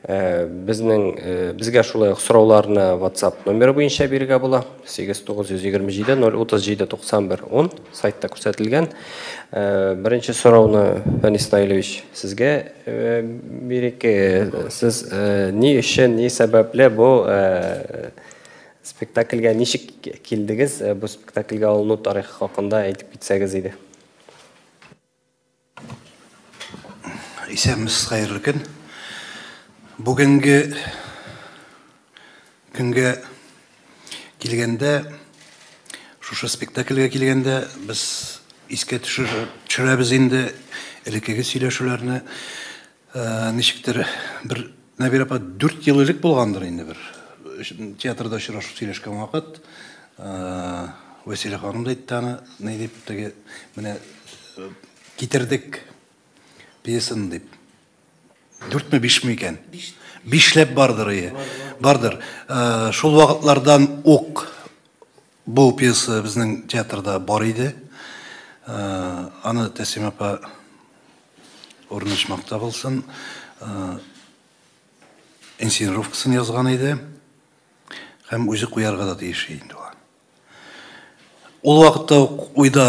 Безнең безгә шулай ук сорауларны WhatsApp номеры буенча бирергә була. 89270379110 сайтта күрсәтелгән. Беренче сорауны Фәнис Наилевич сезгә бирик. Сез ни өчен, ни сәбәпле бу спектакльгә ничек килдегез? Бу спектакльгә алыну тарихы хакында әйтеп китсәгез иде. Исәнмесез, хәерле көн. Бүгенге көнгә килгәндә, шушы спектакльгә килгәндә, без искә төшерәбез инде элеккеге сөйләшүләрне. Ничектер бер Нәбирә апа 4 ел элек булгандыр инде бер театрда очрашып сөйләшкән вакыт Вәсилә ханым да әйтте аны, ни дип теге менә китердек пьесаны дип. Дүртме, бишме икән? Бишләп бардыр, ие. Бардыр. Шул вакытлардан ук Бу пьеса безнең театрда бар иде. Аны Тәсим апа урнашмакта булсын. Инсценировкасын язган иде. Һәм үзе куярга да тиеш инде ул. Ул вакытта ук уйда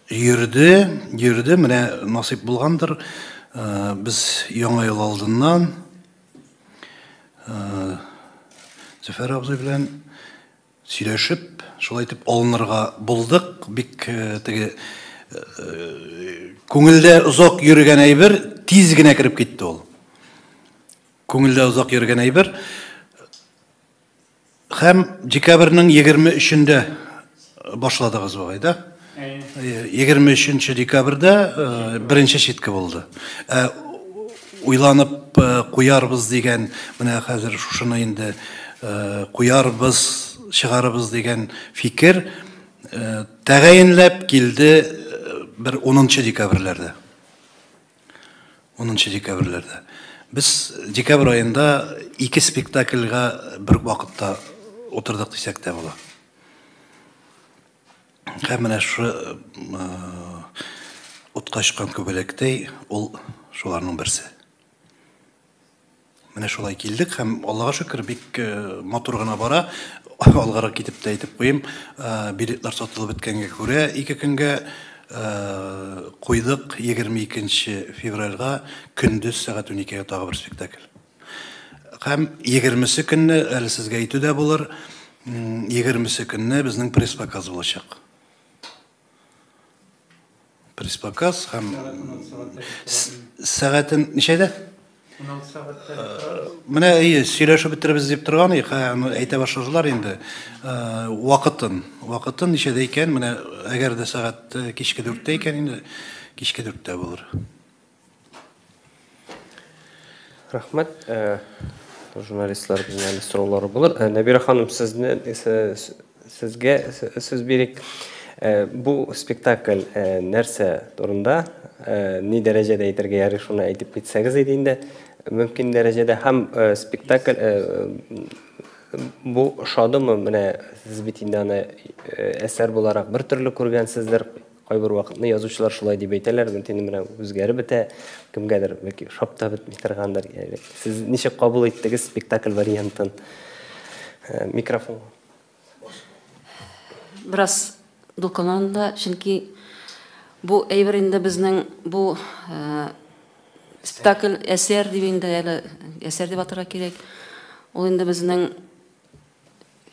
йөрде, йөрде, менә насыйп булгандыр. Без яңа ел алдыннан Зөфәр абзый белән Сөйләшеп, шулай итеп алынырга булдык. Бик теге күңелдә озак йөргән әйбер тиз генә кереп китте ул. Күңелдә озак йөргән әйбер. Хәм декабрьнең 23-ендә башладыгыз бугай, да? егерме өченче декабрьдә беренче читке булды уйланып куярбыз дигән менә хәзер шушыны инде куярбыз чыгарыбыз дигән фикер тәгаенләп килде бер унынчы декабрьләрдә унынчы декабрьләрдә без декабрь аенда ике спектакльга бер вакытта утырдык дисәк тә була Һәм менә шушы утка очкан күбәләктәй ул шуларның берсе. Менә шулай килдек һәм Аллага шөкер, бик э, матур гына бара. Алгарак китеп тә әйтеп куйым, э, билетлар сатылып беткәнгә күрә, ике көнгә э, куйдык 22 февральга көндез сәгать 12-гә тагы бер спектакль. Һәм 20-се көнне, әле сезгә әйтү дә булыр, 20-се көнне безнең пресс-показ булачак. Пресс-показ һәм сәгатен ничәдә? 16 сәгатьтә. Э, менә әйе, сөйләшеп бетеребез дип торган идек, әйтә башладылар инде. Э, вакытын, вакытын ничәдә икән? Менә әгәр дә сәгать э, кичке 4-тә икән инде, кичке 4-тә булыр. Рәхмәт. Э, журналистлар безнең әле сораулары булыр. Э, Нәбирә ханым, сезне э, сезгә сүз бирик. Бу спектакль нәрсә турында, ни дәрәҗәдә әйтергә ярый, шуны әйтеп китсәгез иде инде. Мөмкин дәрәҗәдә һәм спектакль бу ошадымы? Менә сез бит инде аны әсәр буларак бер төрле күргәнсездер. Кайбер вакытны язучылар шулай дип әйтәләр, мөмкин менә үзгәреп бетә, кемгәдер бәлки ошап та бетми торгандыр. Яли. Сез ничек кабул иттегез спектакль вариантын? Э, микрофон. Бераз дулкынланды, чөнки бу әйбер инде безнең бу э, спектакль әсәр дип инде әле әсәр дип атырга кирәк. Ул инде безнең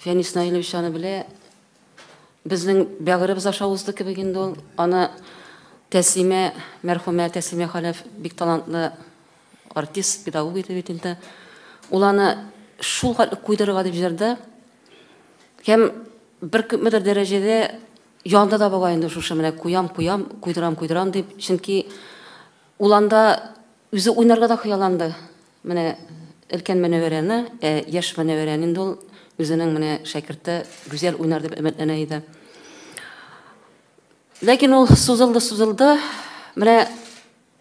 Фәнис Наилович аны белә, Безнең бәгыребез аша узды кебек инде ул. Аны Тәслимә, мәрхүмә Тәслимә Хәләф бик талантлы артист, педагог иде бит инде. Ул аны шул хәтле куйдырырга дип җырды. Һәм бер күпмедер дәрәҗәдә янды да була инде шушы менә куям, куям, куйдырам, куйдырам дип. Чөнки ул анда үзе уйнарга да хыялланды. Менә өлкән Мөнәвәрәне, ә яшь Мөнәвәрәне инде ул үзенең менә шәкерте Гүзәл уйнар дип өметләнә иде. Ләкин ул сузылды-сузылды. Менә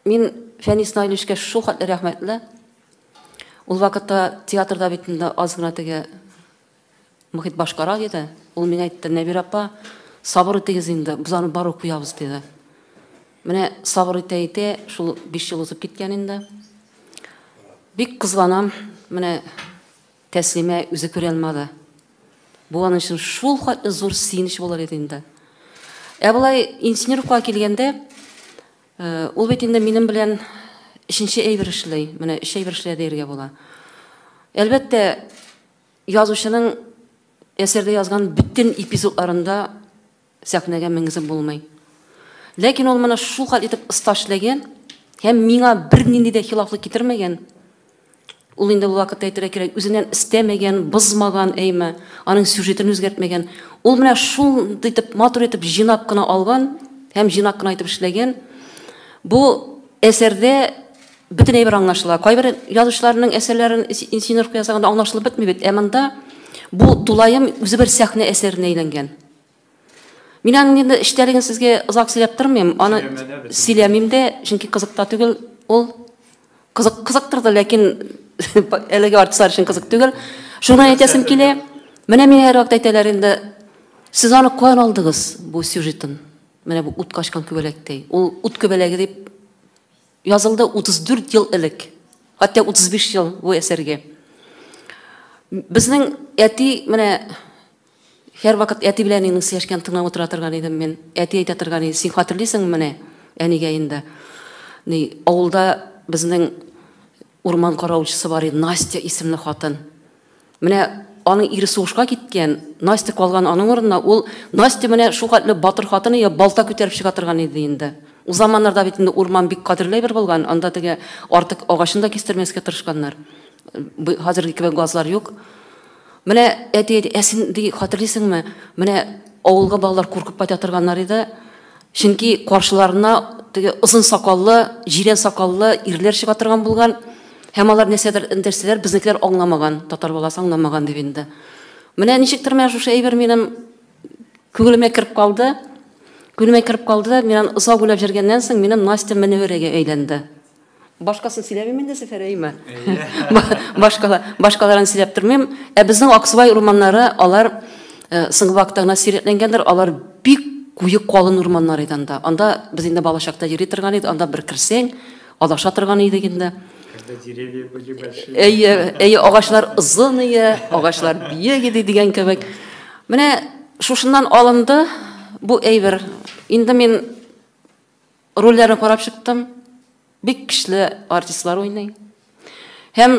мин Фәнис Наилевичка шул хәтле рәхмәтле. Ул вакытта театрда бит инде аз гына теге Мохит башкара, диде. Ул миңа әйтте, Нәбирә апа, сабыр итегез инде, без аны барыбер куябыз, диде. Менә сабыр итә-итә, шул биш ел узып киткән инде. Бик кызганам, менә Тәслимә үзе күрә алмады. Бу аның өчен шул хәтле зур сөенеч булыр иде инде. Ә болай инженерка килгәндә, э, ул бит инде минем белән өченче әйбер эшли, менә өч әйбер эшли дияргә була. Әлбәттә, Язучының әсәрдә язган бөтен эпизодларында сәхнәгә менгезеп булмый. Ләкин ул моны шул хәл итеп оста эшләгән һәм миңа бернинди дә хилафлык китермәгән. Ул инде ул вакытта әйтергә кирәк, үзеннән өстәмәгән, бозмаган, әйме, аның сюжетын үзгәртмәгән. Ул менә шундый итеп, матур итеп җыйнап кына алган һәм җыйнап кына итеп эшләгән. Бу әсәрдә Бөтен әйбер аңлашыла. Кайбер язучыларның әсәрләрен инсценировка ясаганда аңлашылып бетми бит. Ә монда бу тулаем үзе бер сәхнә әсәренә әйләнгән. Мин аның инде эчтәлеген сезгә озак сөйләп тормыйм, аны сөйләмим дә, чөнки кызык та түгел ул. Кызык кызыктыр да, ләкин әлеге артистлар өчен кызык түгел. Шуны әйтәсем килә. Менә миңа һәрвакыт әйтәләр инде, сез аны каян алдыгыз, бу сюжетын? Менә бу ут качкан күбәләктәй. Ул ут күбәләге дип Язылды 34 ел элек, хәтта 35 ел бу әсәргә. Безнең әти менә һәрвакыт әти белән әнинең сөйләшкәнен тыңлап утыра торган идем мин. Әти әйтә торган иде, син хәтерлисеңме менә әнигә инде. Ни, авылда безнең урман каравылчысы бар иде, Настя исемле хатын. Менә аның ире сугышка киткән, Настя калган аның урынына. Ул Настя менә шул хәтле батыр хатыны я балта күтәреп чыга торган иде инде. Ул заманнарда бит инде урман бик кадерле әйбер булган, анда теге артык агачын да кистермәскә тырышканнар. Хәзерге кебек газлар юк. Менә әти әйтә, ә син ди хәтерлисеңме, менә авылга балалар куркып кайта торганнар иде. Чөнки каршыларына теге озын сакаллы, җирән сакаллы ирләр чыга торган булган. Һәм алар нәрсәдер эндерсәләр, безнекеләр аңламаган, татар баласы аңламаган дип инде. Менә ничектер менә шушы әйбер минем күңелемә кереп калды. Күңелемә кереп калды да, мин озак уйлап җөргәннән соң, минем Настя Мөнәвәрәгә әйләнде. Башкасын сөйләмим инде, Зөфәр Әйма. Башкала, башкаларын сөйләп тормыйм. Ә безнең Аксубай урманнары, алар э, соңгы вакытта гына сирәкләнгәндер, алар бик куе калын урманнар иде анда. Анда без инде балачакта йөри торган идек, анда бер керсәң, адаша торган идек инде. Деревья были большие. Әйе, әйе, агачлар озын иде, агачлар биек иде дигән кебек. Менә шушыннан алынды бу әйбер. Инде мин Рольләрен карап чыктым. Бик көчле артистлар уйный. Һәм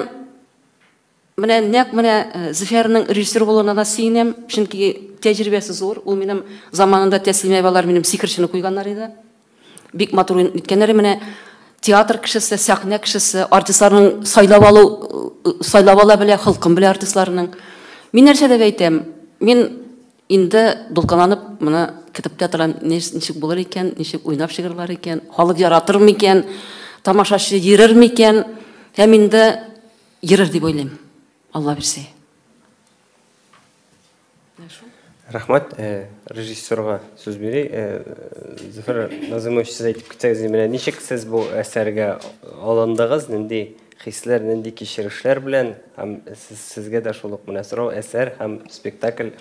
менә нәкъ менә э, Зөфәрнең режиссер булуына да сөенәм, чөнки тәҗрибәсе зур. Ул минем заманында Тәслимә балар минем сихерчене куйганнар иде. Бик матур уйнап киткәннәр. Менә театр кешесе, сәхнә кешесе, артистларның сайлап алу э, сайлап ала белә, холкын белә артистларның. Мин нәрсә дип әйтәм? Мин Инде дулкынланып моны көтеп тә торам, ничек булыр икән, ничек уйнап чыгырлар икән, халык яратыр микән, тамашачы йөрер микән? Һәм инде йөрер дип уйлыйм, Алла бирсә. Рәхмәт, режиссерга сүз бирик. Зөфәр Назымович, сез әйтеп китсәгез, менә ничек сез бу әсәргә алындыгыз, нинди Хисләр, нинди кичерешләр белән һәм сезгә дә шул ук менә сорау, әсәр һәм спектакль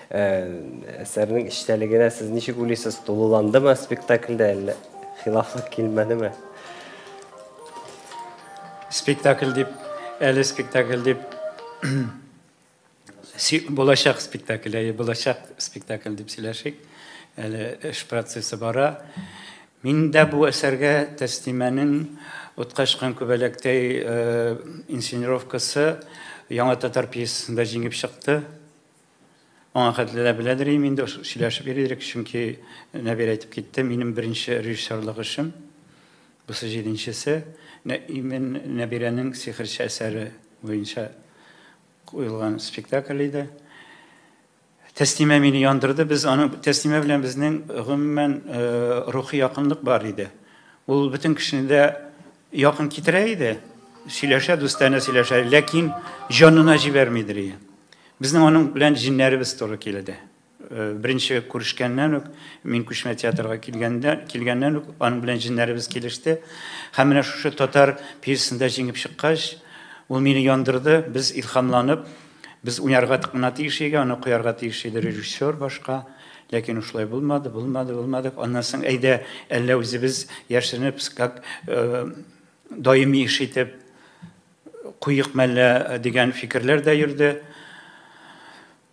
әсәрнең эчтәлегенә сез ничек уйлыйсыз, тулыландымы спектакльдә әллә хилафлык килмәдеме? Спектакль дип, әле спектакль дип Булачак спектакль, әйе, булачак спектакль дип сөйләшик. Әле эш процессы бара. Мин дә бу әсәргә Тәслимәнең Уткачкан күбәләктәй э, инсценировкасы Яңа татар пьесасында җиңеп чыкты. Аңа хәтле дә беләдер идем инде, сөйләшеп йөридек, чөнки Нәбир әйтеп китте, минем беренче режиссерлык эшем, бусы җиденчесе, Нәбирәнең сихерче әсәре буенча Куелган спектакль иде. Тәслимә мине яндырды. Без аны Тәслимә белән безнең гомумән э, рухи якынлык бар иде. Ул бөтен кешене дә якын китерә иде. Сөйләшә, дустанә сөйләшә, ләкин җанына җибәрмидер иде. Безнең аның белән җиннәребез туры килде. Беренче күрешкәннән үк, мин күчмә театрга килгәндә, килгәннән үк аның белән җеннәребез килеште. Һәм менә шушы татар пьесасында җиңеп чыккач, ул мине яндырды, без илһамланып, без уйнарга гына тиеш иде, аны куярга тиеш иде режиссер башка. Ләкин шулай булмады, булмады, булмады. Аннан соң әйдә, әллә үзебез яшеренеп, как э, даими эш итеп куйык мәллә дигән фикерләр дә йөрде.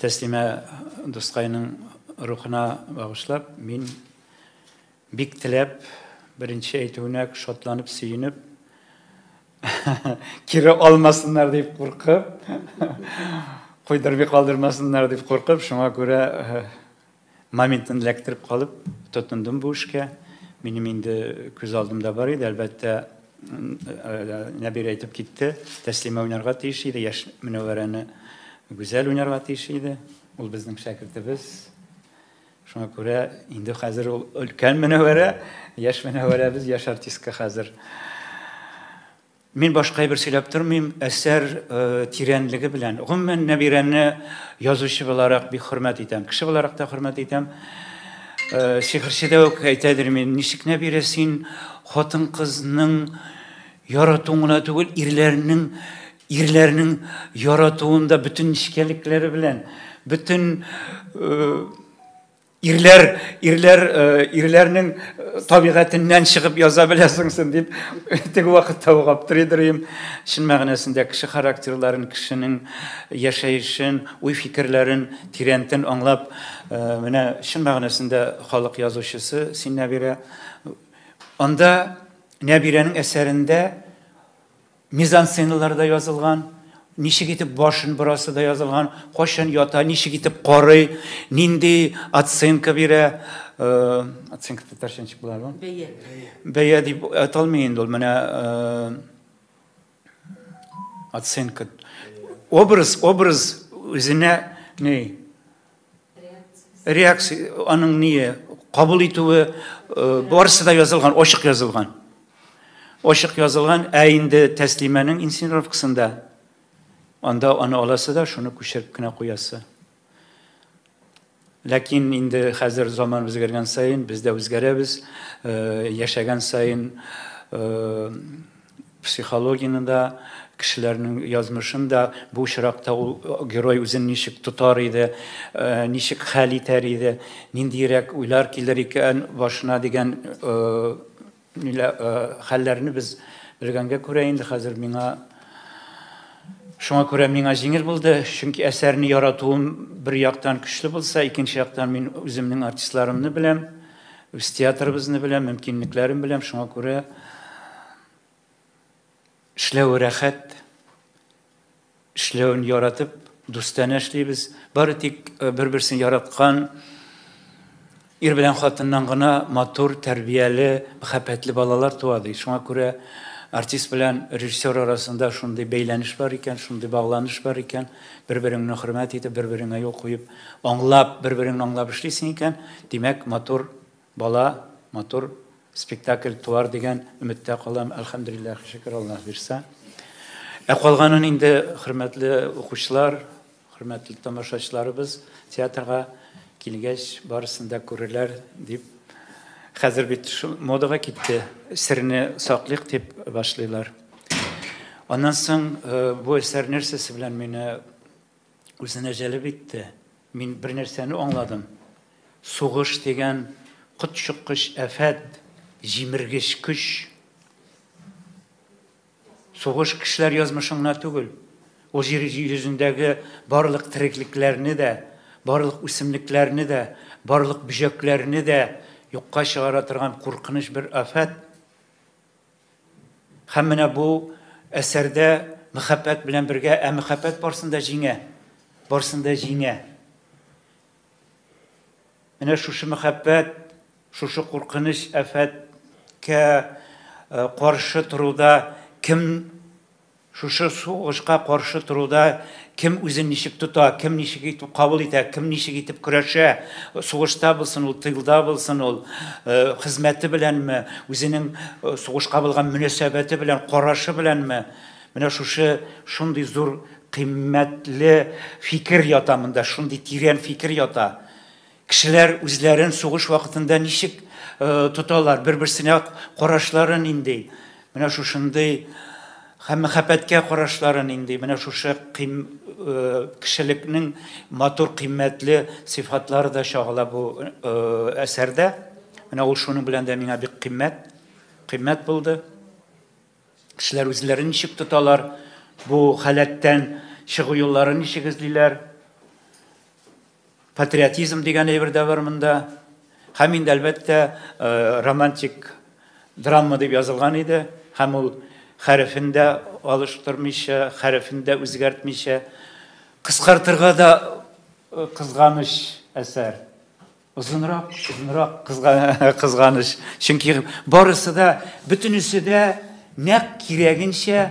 Тәслимә дускайның рухына багышлап, мин бик теләп, беренче әйтүенә шатланып, сөенеп, кире алмасыннар дип куркып, куйдырмый калдырмасыннар дип куркып, шуңа күрә Моментын эләктереп калып, тотындым бу эшкә. Минем инде күз алдымда бар иде, әлбәттә, Нәбирә әйтеп китте, Тәслимә уйнарга тиеш иде, яшь Мөнәвәрәне Гүзәл уйнарга тиеш иде. Ул безнең шәкертебез. Шуңа күрә инде хәзер ул өлкән Мөнәвәрә, яшь Мөнәвәрәбез, яшь артистка хәзер. Мин башка әйбер сөйләп тормыйм, әсәр тирәнлеге белән. Гомумән, Нәбирәне язучы буларак бик хөрмәт итәм. Кеше буларак та хөрмәт итәм. Сихерче дә үк әйтәдер мин, ничек Нәбирә син хатын-кызның яратуын гына түгел, ирләрнең ирләрнең яратуында бөтен нечкәлекләре белән, бөтен Ирләр, ирләр, э, ирләрнең э, табигатеннән чыгып яза беләсеңсен дип теге вакытта ук аптырыйдырым. Чын мәгънәсендә кеше характерларын, кешенең яшәешен, уй фикерләрен тирәнтен аңлап, э, менә чын мәгънәсендә халык язучысы син Нәбирә. Анда Нәбирәнең әсәрендә Мизансценаларда язылган, ничек итеп башын борасы да язылган, кайчан ята, ничек итеп карый, нинди оценка бирә, э, оценка татарча ничек була бу? Бәя. Бәя дип аталмый инде ул, менә э, оценка. Образ, образ үзенә ни? Реакция, аның ние, кабул итүе, э, барысы да язылган, ачык язылган. Ачык язылган, ә инде тәслимәнең инсценировкасында анда аны аласы да шуны күчереп кенә куясы. Ләкин инде хәзер заман үзгәргән саен, без дә үзгәрәбез, э, яшәгән саен э, Психологияне дә, кешеләрнең язмышын да, бу очракта ул герой үзен ничек тотар иде, ничек хәл итәр иде, ниндиерәк уйлар килер икән башына дигән хәлләрне без белгәнгә күрә инде хәзер миңа Шуңа күрә миңа җиңел булды, чөнки әсәрне яратуым бер яктан көчле булса, икенче яктан мин үземнең артистларымны беләм. Үз театрыбызны беләм, мөмкинлекләрен беләм, шуңа күрә эшләве рәхәт, эшләвен яратып, дустанә эшлибез. Бары тик э, бер-берсен яраткан ир белән хатыннан гына матур, тәрбияле, мәхәббәтле балалар туа ди. Шуңа күрә артист белән режиссер арасында шундый бәйләнеш бар икән, шундый багланыш бар икән, бер-береңне хөрмәт итеп, бер-береңә юл куеп Аңлап, бер-береңне аңлап эшлисең икән, димәк, матур бала, матур спектакль туар дигән өметтә калам. Әлхәмдулиллах, шөкер Аллаһ бирсә. Ә калганын инде хөрмәтле укучылар, хөрмәтле тамашачыларыбыз театрга килгәч барысын да күрерләр дип. Хәзер бит модага китте, серне саклыйк дип башлыйлар. Аннан соң э, бу әсәр нәрсәсе белән мине үзенә җәлеп итте. Мин бер нәрсәне аңладым. Сугыш дигән котчыккыч әфәт, җимергеч көч. Сугыш кешеләр язмышыңна түгел, ул җир йөзендәге барлык тереклекләрне дә, барлык үсемлекләрне дә, барлык бөҗәкләрне дә юкка чыгара торган куркыныч бер афәт. Һәм менә бу әсәрдә мәхәббәт белән бергә, ә мәхәббәт барсын да җиңә. Барсын да җиңә. Менә шушы мәхәббәт, шушы куркыныч афәткә каршы торуда кем Шушы сугышка каршы торуда кем үзен ничек тота, кем ничек итеп кабул итә, кем ничек итеп көрәшә, сугышта булсын ул, тылда булсын ул, хезмәте беләнме, үзенең сугышка булган мөнәсәбәте белән, карашы беләнме, менә шушы шундый зур кыйммәтле фикер ята монда, шундый тирән фикер ята. Кешеләр үзләрен сугыш вакытында ничек тоталар, бер-берсенә карашлары нинди? Менә шушындый һәм мәхәббәткә карашлары нинди? Менә шушы кешелекнең матур, кыйммәтле сыйфатлары да чагыла бу әсәрдә. Менә ул шуның белән дә миңа бик кыйммәт, кыйммәт булды. Кешеләр үзләрен ничек тоталар, бу халәттән чыгу юлларын ничек эзлиләр? Патриотизм дигән әйбер дә бар монда. Һәм инде, әлбәттә, э, романтик драма дип язылган иде. Һәм ул хәрефен дә алыштырмыйча, хәрефен дә үзгәртмичә, кыскартырга да э, кызганыч әсәр. Озынрак, озынрак кызганыч. Чөнки барысы да, бөтенесе дә нәк кирәгенчә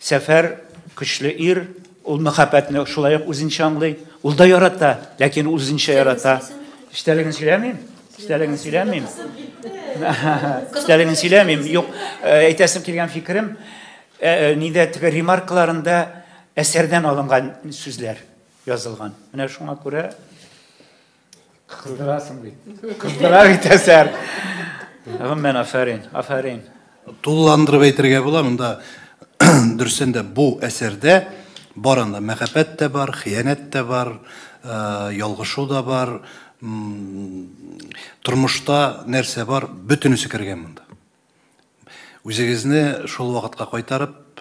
Сәфәр, көчле ир, ул мәхәббәтне шулай ук үзенчә аңлый. Ул да ярата, ләкин үзенчә ярата. Эчтәлеген сөйләмим. Эчтәлеген сөйләмим. Эчтәлеген сөйләмим. Юк, э, әйтәсем килгән фикерем, э, э, нидә теге ремаркаларында әсәрдән алынган сүзләр язылган. Менә шуңа күрә Кыздырасың бит. Кыздыра бит әсәр. Гомумән, афәрин, афәрин. Тулыландырып әйтергә була, монда дөресен дә бу әсәрдә барында мәхәббәт тә бар, хыянәт тә бар, э, ялгышу да бар, тормышта нәрсә бар, бөтенесе кергән монда. Үзегезне шул вакытка кайтарып,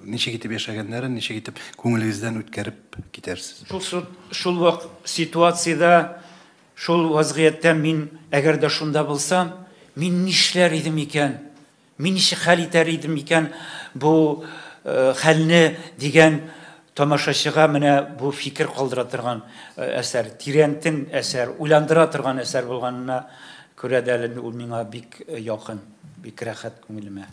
ничек итеп яшәгәннәрен, ничек итеп күңелегездән үткәреп китәрсез? Шул вак ситуациядә, шул вазгыятьтә мин әгәр дә шунда булсам, мин нишләр идем икән? Мин ничек хәл итәр идем икән бу хәлне дигән Тамашачыга менә бу фикер калдыра торган әсәр, тирәнтен әсәр, уйландыра торган әсәр булганына күрә дә әле ул миңа бик якын, бик рәхәт күңелемә.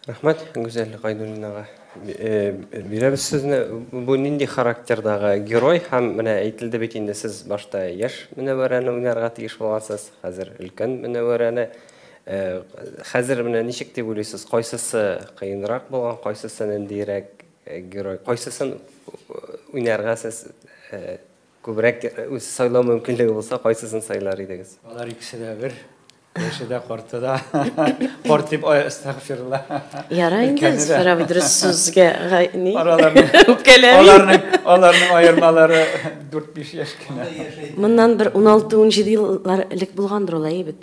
Рәхмәт Гүзәл Гайдуллинага. Бирәбез сезне. Бу нинди характердагы герой һәм менә әйтелде бит инде сез башта яшь Мөнәвәрәне уйнарга тиеш булгансыз, хәзер өлкән Мөнәвәрәне. Э, хәзер менә ничек дип уйлыйсыз, кайсысы кыенрак булган, кайсысы ниндирәк э, герой, кайсысын уйнарга сез э, күбрәк үз сайлау мөмкинлеге булса, кайсысын сайлар идегез? Алар икесе дә бер. Яше дә, карты да. Карт дип, ай, әстәгфирулла. Яра инде, Зифар абый дөрес сүзгә ни? Аларның аларның аермалары 4-5 яшь кенә. Моннан бер 16-17 еллар элек булгандыр ул, әйе бит.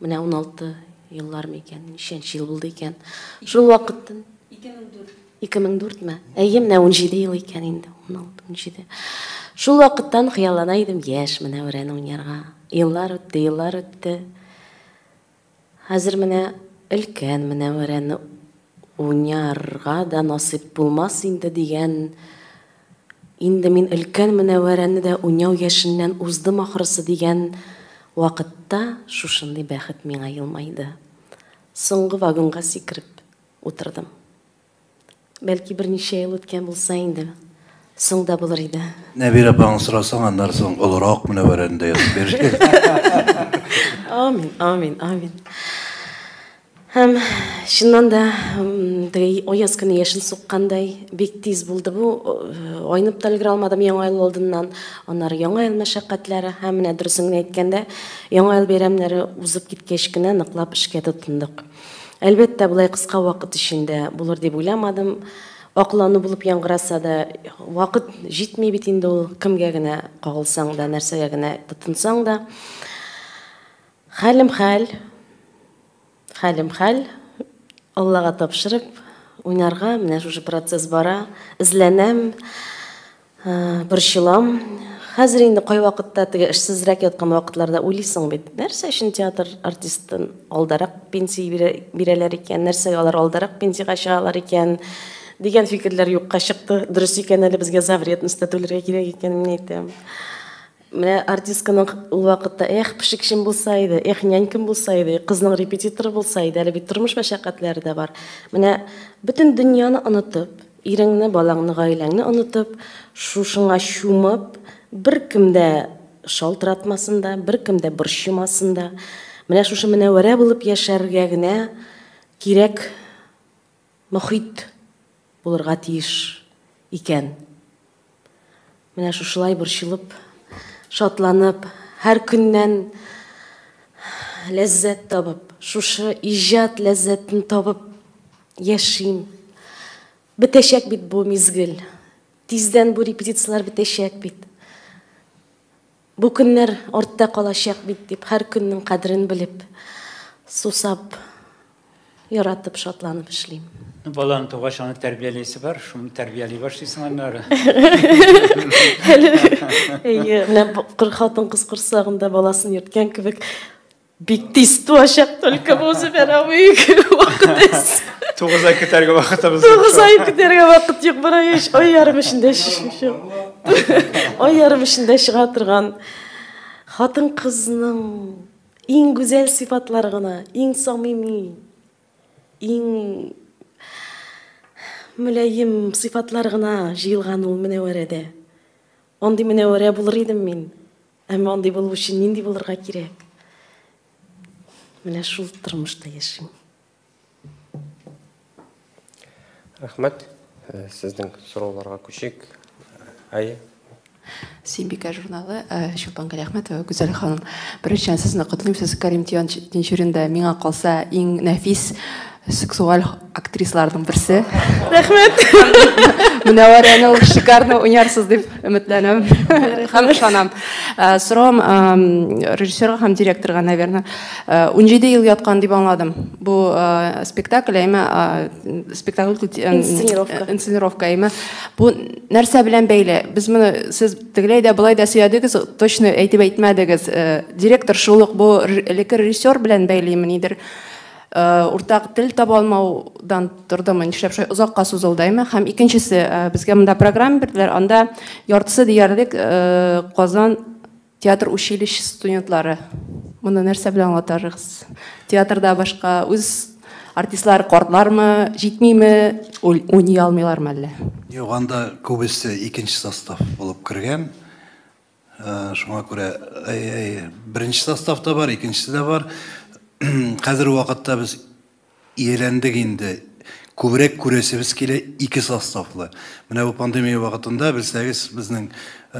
Менә уналты еллар микән, ничәнче ел булды икән. Шул вакыттан 2004. 2004 ме? Әйе, менә 17 ел икән инде, 16, 17. Шул вакыттан хыяллана идем яшь Менәүрәне уйнарга. Еллар үтте, еллар үтте. Хәзер менә өлкән Менәүрәне Уйнарга да насыйп булмас инде дигән Инде мин өлкән Мөнәвәрәне дә уйнау яшеннән уздым ахрысы дигән вакытта шушындый бәхет миңа елмайды. Соңгы вагонга сикереп утырдым. Бәлки берничә ел үткән булса инде, соң да булыр иде. Нәбирә апаңны сорасаң, аннары соң олырак Мөнәвәрәне дә язып бирер. Амин, амин, амин. Һәм, чыннан да, теге аяз көне яшен суккандай, бик тиз булды бу. Айнып та өлгерә алмадым Яңа ел алдыннан. Аннары Яңа ел мәшәкатьләре һәм менә дөресен генә әйткәндә, Яңа ел бәйрәмнәре узып киткәч кенә ныклап эшкә тотындык. Әлбәттә, болай кыска вакыт эчендә булыр дип уйламадым. Аклану булып яңгыраса да, вакыт җитми бит инде ул, кемгә генә кагылсаң да, нәрсәгә генә тотынсаң да. Хәлем хәл, хәлем хәл, Аллага тапшырып, уйнарга, менә шушы процесс бара, эзләнәм, борчылам. Хәзер инде кайвакытта теге эшсезрәк яткан вакытларда уйлыйсың бит, нәрсә өчен театр артистын алдарак пенсия бирәләр икән, нәрсәгә алар алдарак пенсиягә чыгалар икән, дигән фикерләр юкка чыкты. Дөрес икән әле, безгә за вредность та түләргә кирәк икәнен әйтәм. Менә артистканың ул вакытта, эх, пешекчем булса иде, эх, нянькам булса иде, кызның репетиторы булса иде, әле бит тормыш мәшәкатьләре дә бар. Менә бөтен дөньяны онытып, иреңне, балаңны, гаиләңне онытып, шушыңа чумып, беркем дә шалтыратмасын да, беркем дә борчымасын да, менә шушы Менәвәрә булып яшәргә генә кирәк мохит булырга тиеш икән. Менә шушылай борчылып, шатланып, һәр көннән ләззәт табып, шушы иҗат ләззәтен табып яшим. Бетәчәк бит бу мизгел. Тиздән бу репетицияләр бетәчәк бит. Бу көннәр артта калачак бит дип, һәр көннең кадерен белеп, сусап, яратып, шатланып эшлим. Баланы тугач, аны тәрбияләйсе бар, шуны тәрбияли башлыйсың аннары. Әйе, менә хатын-кыз корсагында баласын йөрткән кебек, Бик тиз туачак, только бу үзебәрә бик вакыт эс. Тугыз ай көтәргә вакытыбыз юк. Тугыз ай көтәргә вакыт юк, бара еш ай ярым эчендә чыгып. Ай ярым эчендә чыга торган хатын кызның иң гүзәл сыйфатлары гына, иң самими, иң мөләем сыйфатлар гына җыелган ул Мөнәвәрәдә. Андый Мөнәвәрә булыр идем мин. Әмма андый булу өчен нинди булырга кирәк? Менә шул тормышта яшим. Рәхмәт. Э, сезнең сорауларга күчик. Әйе. Симбика журналы э, Чулпан Галиәхмәтова Гүзәл ханым. Беренчедән сезне котлыйм. Сез Карим Тинчуринда миңа калса иң нәфис сексуаль Актрисларның берсе. Рәхмәт. Мөнәвәрәне ул шикарно уйнарсыз дип өметләнәм. Һәм ышанам. Э, Сорам э, режиссерга һәм директорга, наверное, 17 э, ел яткан дип аңладым. Бу спектакль, әйме спектакль инсценировка. Инсценировка, әйме. Бу нәрсә белән бәйле? Без моны сез тегеләй дә былай да сөйәдегез, точно әйтеп әйтмәдегез. Директор шулык бу элекке режиссер белән бәйлеме нидер? Уртак тел таба алмаудан тордымы, нишләп шулай озакка сузылды, әйме? Һәм икенчесе, безгә монда программа бирделәр, анда яртысы диярлек Казан театр училищесы студентлары. Моны нәрсә белән аңлатарыгыз? Театрда башка үз артистлар картлармы, җитмиме, уйный алмыйлармы әллә? Юк, анда күбесе икенче состав булып кергән. Шуңа күрә беренче состав та бар, икенчесе дә бар. Хәзер вакытта без ияләндек инде. Күбрәк күрәсебез килә ике составлы. Менә бу пандемия вакытында, белсәгез, безнең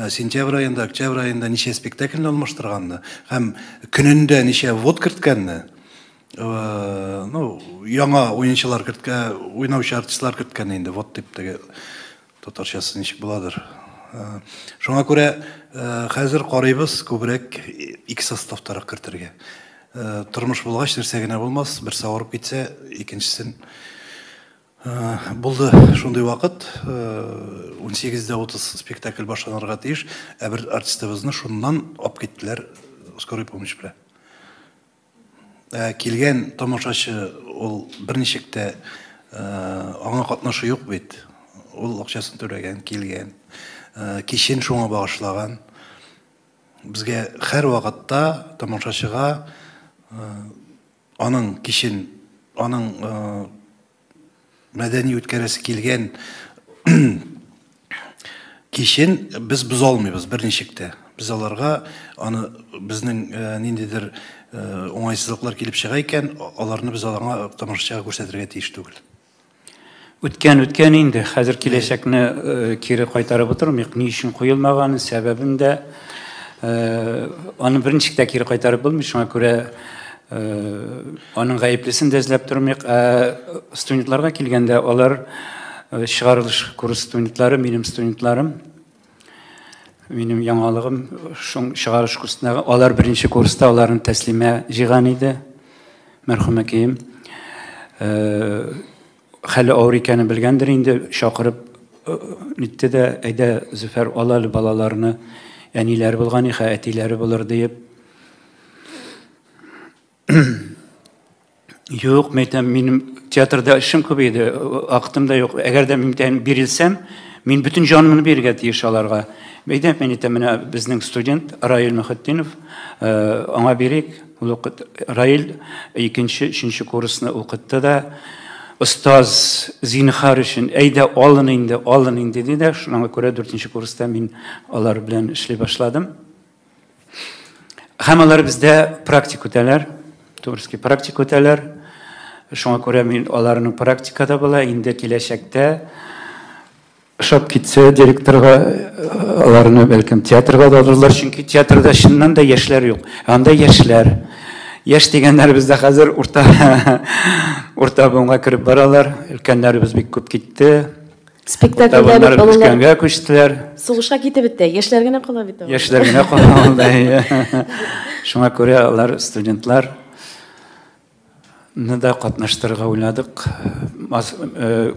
сентябрь аенда, октябрь аенда ничә спектакльне алмаштырганны һәм көнендә ничә ввод керткәнне, ну, яңа уенчылар керткән, уйнаучы артистлар керткәнне инде ввод дип теге Татарчасы ничек буладыр. Шуңа күрә хәзер карыйбыз күбрәк ике составтарак кертергә. Тормыш булгач нәрсә генә булмас, берсе авырып китсә, икенчесен булды шундый вакыт, 18 дә 30 спектакль башланырга тиеш, ә бер артистыбызны шуннан алып киттеләр скорый помощь белән. Ә килгән тамашачы ул берничек тә аңа катнашы юк бит. Ул акчасын түләгән, килгән. Кичен шуңа багышлаган. Безгә һәрвакытта тамашачыга аның кичен, аның мәдәни үткәрәсе килгән кичен без боза алмыйбыз берничек тә. Без аларга аны безнең э, ниндидер э, уңайсызлыклар килеп чыга икән, аларны без аларга тамашачыга күрсәтергә тиеш түгел. Үткән үткән инде, хәзер киләчәкне э, кире кайтарып утырмыйк. Ни өчен куелмаган, сәбәбен дә аны берничек тә кире кайтарып булмый, шуңа күрә Аның гаеплесен дә эзләп тормыйк. Студентларга килгәндә, алар чыгарылыш курс студентлары, минем студентларым. Минем яңалыгым шуң чыгарыш курсындагы. Алар беренче курста аларны тәслимә җыйган иде. Мәрхүмәкәем. Хәле авыр икәнен белгәндер инде, чакырып нитте дә, әйдә, Зөфәр, ал әле балаларны, әниләре булган иха, әтиләре булыр диеп. Юк, мәйтәм, минем театрда эшем күп иде, актым да юк. Әгәр дә мин бирелсәм, мин бүтін жанымны бирергә тиеш аларга. Мәйтәм, мин әйтәм, менә безнең студент Раил Мөхетдинов, аңа бирик. Ул укыт Раил икенче, өченче курсны укытты да, остаз зинхар өчен әйдә алын инде, алын инде диде дә, шуңа күрә дүртенче курста мин алар белән эшли башладым. Һәм алар бездә практик үтәләр, Турский практик үтәләр. Шуңа күрә мин аларның практикада була, инде киләчәктә Ошап китсә директорга, аларны бәлкем театрга да алырлар, чөнки театрда чыннан да яшьләр юк. Ә анда яшьләр. Яшь дигәннәр бездә хәзер урта урта буынга кереп баралар. Өлкәннәребез бик күп китте. Спектакльләр булганда күчтеләр. Сугышка китеп бетте. Яшьләр генә кала бит. Яшьләр генә кала анда. Шуңа күрә алар студентлар Нда катнаштырырга уйладык.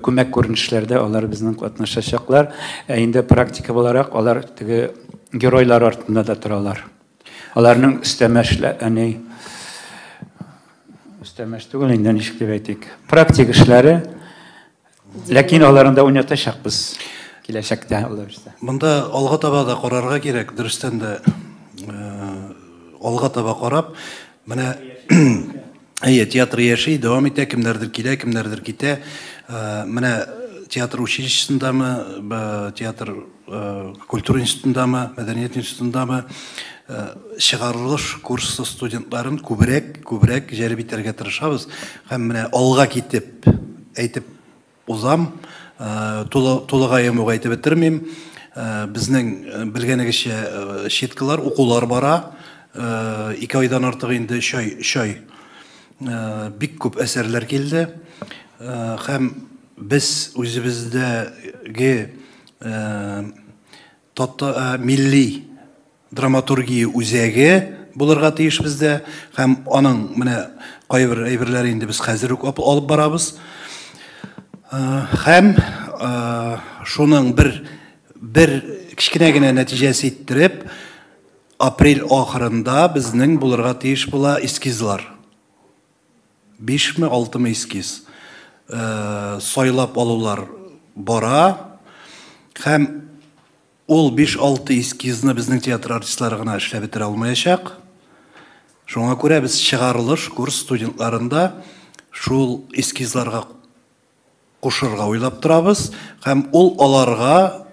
Күмәк күренешләрдә алар безнең катнашачаклар. Ә инде практика буларак алар теге геройлар артында да торалар. Аларның өстәмә эшлә, әни өстәмә эш түгел инде, ничек дип әйтик, практик эшләре Ләкин аларында уйнатачакбыз киләчәктә алла бирсә. Монда алга таба да карарга кирәк, дөрестән дә э, алга таба карап, менә әйе, театр яши, дәвам итә, кемнәрдер килә, кемнәрдер китә. Э, менә театр училищесындамы, театр э, культура институтындамы, мәдәният институтындамы чыгарылыш курсы студентларын күбрәк, күбрәк җәлеп итәргә тырышабыз һәм менә алга китеп Әйтеп узам, тулы, тулыгаем ук әйтеп бетермим. Безнең белгәнегезчә щеткалар, укулар бара. Ике айдан артык инде өч ай, өч ай бик күп әсәрләр килде. Һәм без үзебездәге Тата милли драматургия үзәге булырга тиеш бездә һәм аның менә кайбер әйберләре инде без хәзер үк алып барабыз. Һәм шуның бер бер кечкенә генә нәтиҗәсе иттереп, апрель ахырында безнең булырга тиеш була эскизлар. Бишме, алтымы эскиз сайлап алулар бара. Һәм ул биш-алты эскизны безнең театр артистлары гына эшләп бетерә алмаячак. Шуңа күрә без чыгарылыш курс студентларында шул эскизларга кушырга уйлап торабыз. Һәм ул аларга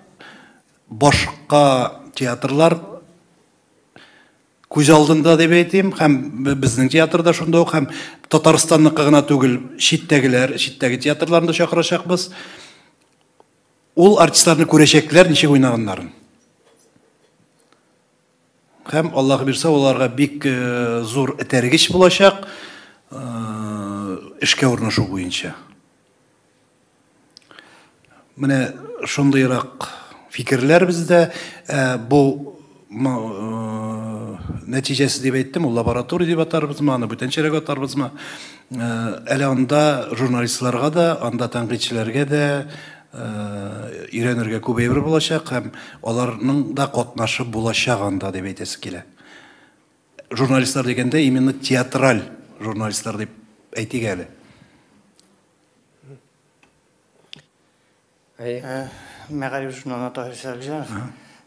башка театрлар Күз алдында дип әйтим, һәм безнең театр да шунда ук, һәм Татарстанныкы гына түгел, читтәгеләр, читтәге театрларны да чакырачакбыз. Ул артистларны күрәчәкләр, ничек уйнаганнарын. Һәм Аллаһ бирсә, аларга бик э, зур этәргеч булачак э, эшкә урнашу буенча. Менә шундыйрак фикерләр бездә. Ә, бу нәтиҗәсе дип әйттем, ул лаборатория дип атарбызмы, аны бүтәнчәрәк атарбызмы? Әле анда журналистларга да, анда тәнкыйтьчеләргә дә өйрәнергә күп әйбер булачак һәм аларның да катнашы булачак анда дип әйтәсе килә. Журналистлар дигәндә именно театраль журналистлар дип әйтик әле. Әйе. Э, Мәгариф журналына Таһир Сәлҗанов.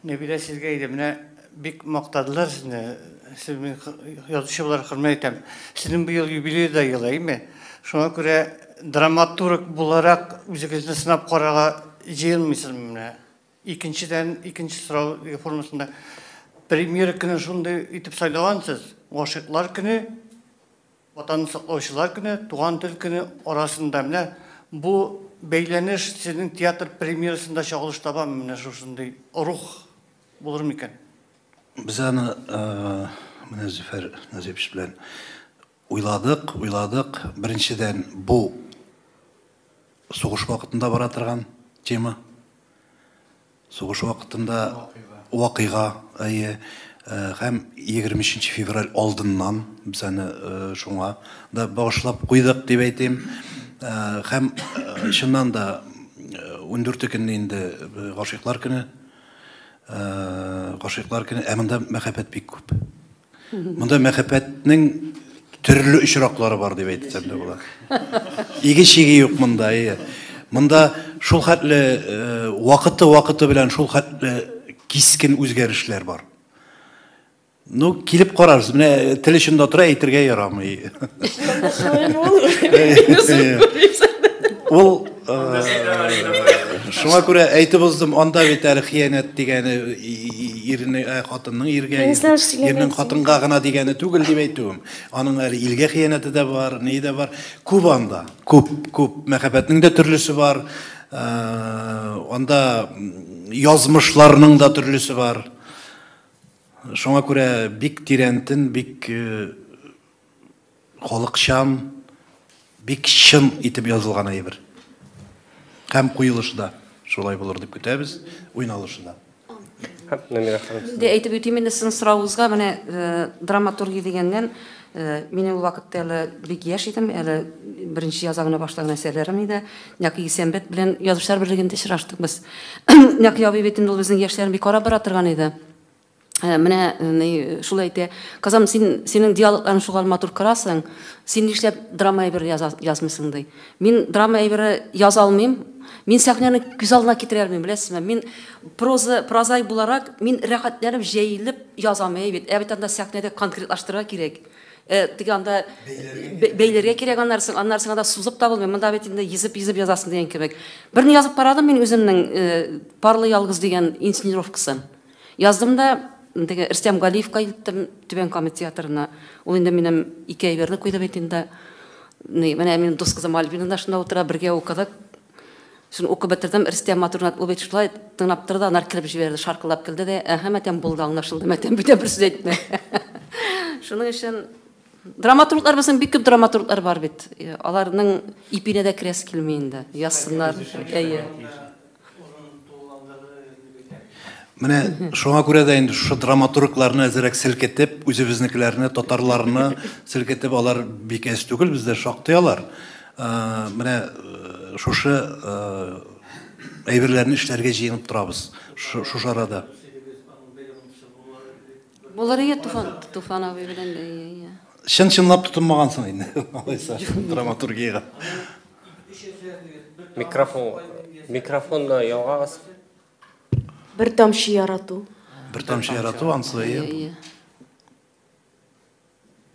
Нәбилә сезгә иде, менә бик мактадылар сезне. Сез мин язучы буларак хөрмәт итәм. Сезнең бу ел юбилей да елы, әйме? Шуңа күрә драматург буларак үзегезне сынап карарга җыенмыйсызмы менә? Икенчедән, икенче сорау формасында премьера көне шундый итеп сайлагансыз, гашыйклар көне Ватанны саклаучылар көне, Туган тел көне арасында менә бу бәйләнеш сезнең театр премьерасында чагылыш табамы, менә шушындый рух булыр микән? Без аны менә Зөфәр Назипович белән уйладык, уйладык. Беренчедән, бу сугыш вакытында бара торган тема. Сугыш вакытында вакыйга, әйе, һәм 23 нче февраль алдыннан без аны шуңа да багышлап куйдык дип әйтим. Һәм чыннан да 14 көнне инде гашыйклар көне. Гашыйклар көне, ә монда мәхәббәт бик күп. Монда мәхәббәтнең төрле очраклары бар дип әйтсәм дә була. Иге чиге юк монда, әйе. Монда шул хәтле вакыты-вакыты белән шул хәтле кискен үзгәрешләр бар. Ну, килеп карарсыз. Менә тел очында тора, әйтергә ярамый. Шулай булыр. Ул Шуңа күрә әйтеп уздым, анда бит әле хыянәт дигәне ирне, ә, хатынның иргә, ирнең хатынга гына дигәне түгел дип әйтүем. Аның әле илгә хыянәте дә бар, ни дә бар. Күп анда, күп, күп. Мәхәббәтнең дә төрлесе бар. Анда язмышларның да төрлесе бар. Шуңа күрә бик тирәнтен, бик Халыкчан, бик чын итеп язылган әйбер. Һәм куелышы да шулай булыр дип көтәбез, уйналышы да. Намира ханым. Инде әйтеп үтим инде син соравыгызга менә э, драматургия дигәннән э, мин ул вакытта әле бик яшь идем, әле беренче яза гына башлаган әсәрләрем иде. Нәки Исәнбәт белән язучылар берлегендә очраштык без. Нәки абый бит инде ул безнең яшьләрне бик карап бара торган иде. Ә, менә ни, шул әйтә, Казам, син, синең диалогларың шугал матур кырасың, син нишләп драма әйбер яза, язмыйсың ди. Мин драма әйбере яза алмыйм, мин сәхнәне күз алдына китерә алмыйм, беләсезме? Мин проза, прозай буларак, мин рәхәтләнеп, җәелеп язам әй бит. Ә бит анда сәхнәдә конкретлаштырырга кирәк. Э, теге анда бәйләргә кирәк аннарсын, аннарсын анда сузып табылмый. Монда бит инде йөзеп-йөзеп язасың дигән кебек. Берне язып карадым мин үземнең э, Парлы ялгыз дигән инсценировкасын. Яздым да теге Рөстәм Галиевка илттем, Түбән Кама театрына. Ул инде минем ике әйберне куйды бит инде. Ни, менә минем дус кызым Альбина да шунда утыра, бергә укыдык. Шуны укып бетердем, Рөстәм Матурнат ул бит шулай тыңлап торды, анар килеп җибәрде, шаркылдап килде дә, әһә, мәтәм булды, аңлашылды, мәтәм бүтә бер сүз әйтмә. Шуның өчен драматурглар безнең бик күп драматурглар бар бит. Аларның ипенә дә керәсе килми инде. Язсыннар. Әйе. Менә шуңа күрә дә инде шушы драматургларны әзерәк селкетеп, үзебезнекеләрне, татарларны селкетеп, алар бик әз түгел бездә шактый алар. Ә, менә э, шушы э, әйберләрне эшләргә җыенып торабыз. Шу- Шушы арада. Булыр ие Туфан, Туфан абый белән дә ие, ие. Чын-чынлап тотынмагансың инде, алайса, драматургиягә. Микрофон, микрофонны ялгагыз. Бер тамчы ярату. Бер тамчы ярату, ансы ие.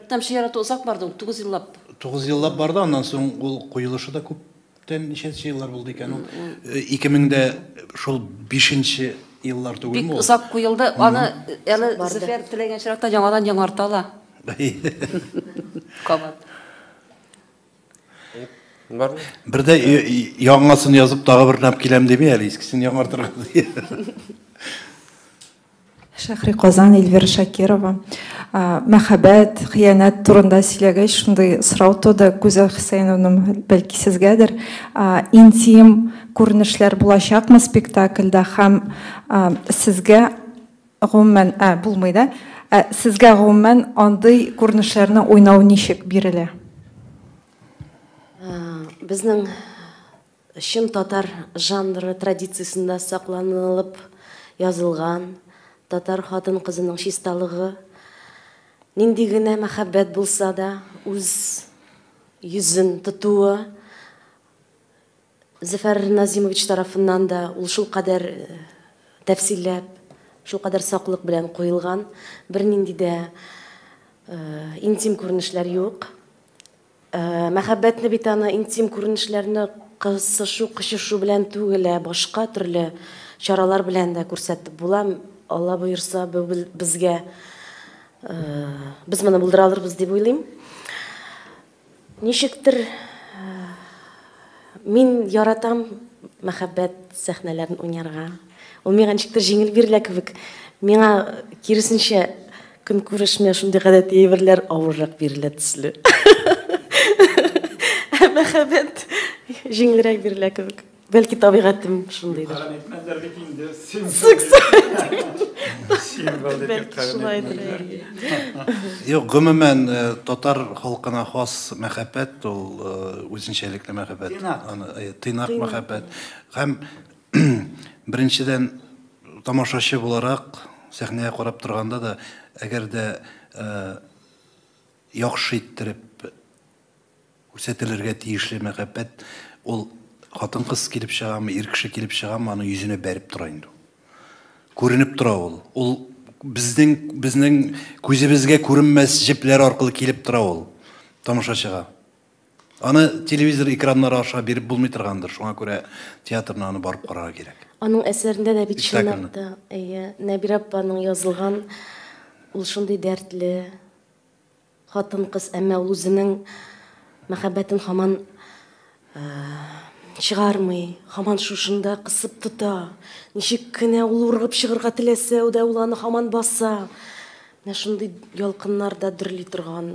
Там чирату озак барды ул, тугыз еллап. Тугыз еллап барды, аннан соң ул куелышы да күп күптән ничәнче еллар булды икән ул? 2000-дә шул 5-нче еллар түгелме ул? Бик озак куелды. Аны әле Зөфәр теләгән чиракта яңадан яңарта ала. Кабат. Бер дә яңасын язып тагы бер нап киләм диби әле, искесен яңартырга. Шәхри Казан, Эльвира Шакирова. Мәхәббәт, хыянәт турында сөйләгәч, шундый сорау туды, Гүзәл Хөсәеновна, бәлки сезгәдер. Интим күренешләр булачакмы спектакльдә һәм сезгә гомумән, булмый да, сезгә гомумән андый күренешләрне уйнау ничек бирелә? Безнең Чын татар жанры традициясендә сакланылып язылган татар хатын-кызының чисталыгы, нинди генә мәхәббәт булса да, үз йөзен тотуы Зөфәр Назимович тарафыннан да ул шулкадәр тәфсилләп, шулкадәр саклык белән куелган, бернинди дә интим күренешләр юк. Мәхәббәтне бит аны интим күренешләрне кысышу, кочышу белән түгел, ә башка төрле чаралар белән дә күрсәтеп була. Алла боерса, бу безгә без моны булдыра алырбыз дип уйлыйм. Ничектер мин яратам мәхәббәт сәхнәләрен уйнарга. Ул миңа ничектер җиңел бирелә кебек. Миңа, киресенчә, көнкүреш менә шундый гадәти әйберләр авыррак бирелә төсле. Ә мәхәббәт җиңелрәк бирелә кебек. Бәлки табигатем шундыйдыр. Юкка әйтмәделәр бит инде. Юк, гомумән, татар халкына хас мәхәббәт ул үзенчәлекле мәхәббәт. Тыйнак. Аны, тыйнак мәхәббәт. Һәм Беренчедән, тамашачы буларак, сәхнәгә карап торганда да, әгәр дә яхшы иттереп күрсәтелергә тиешле мәхәббәт, ул хатын-кыз килеп чыгамы, ир кеше килеп чыгамы, аның йөзенә бәреп тора инде ул. Күренеп тора ул. Ул безнең, безнең күзебезгә күренмәс җепләр аркылы килеп тора ул тамашачыга. Аны телевизор экраннары аша биреп булмый торгандыр, шуңа күрә театрына аны барып карарга кирәк. Аның әсәрендә дә бит чынлап та, әйе, Нәбирә апаның язылган ул шундый дәртле хатын-кыз, әмма ул үзенең мәхәббәтен хаман чыгармый, хаман шушында кысып тота. Ничек кенә ул ургып чыгарга теләсә, ул да ул аны хаман баса. Менә шундый ялкыннарда дөрли торган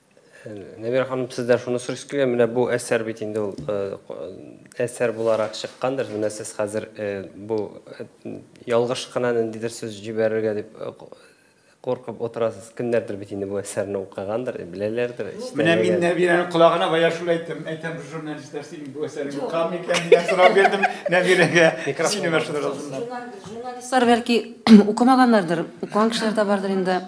Нәбирә ханым, сездән шуны сорыйсы килә, менә бу әсәр бит инде ул әсәр буларак чыккандыр. Менә сез хәзер бу ялгыш кына ниндидер сүз җибәрергә дип куркып утырасыз. Кемнәрдер бит инде бу әсәрне укыгандыр, беләләрдер. Менә мин Нәбирәнең колагына бая шул әйттем. Әйтәм, бу журналистлар синең бу әсәреңне укыган микән дигән сорау бирдем Нәбирәгә. Микрофон. Журналистлар бәлки укымаганнардыр, укыган кешеләр дә бардыр инде.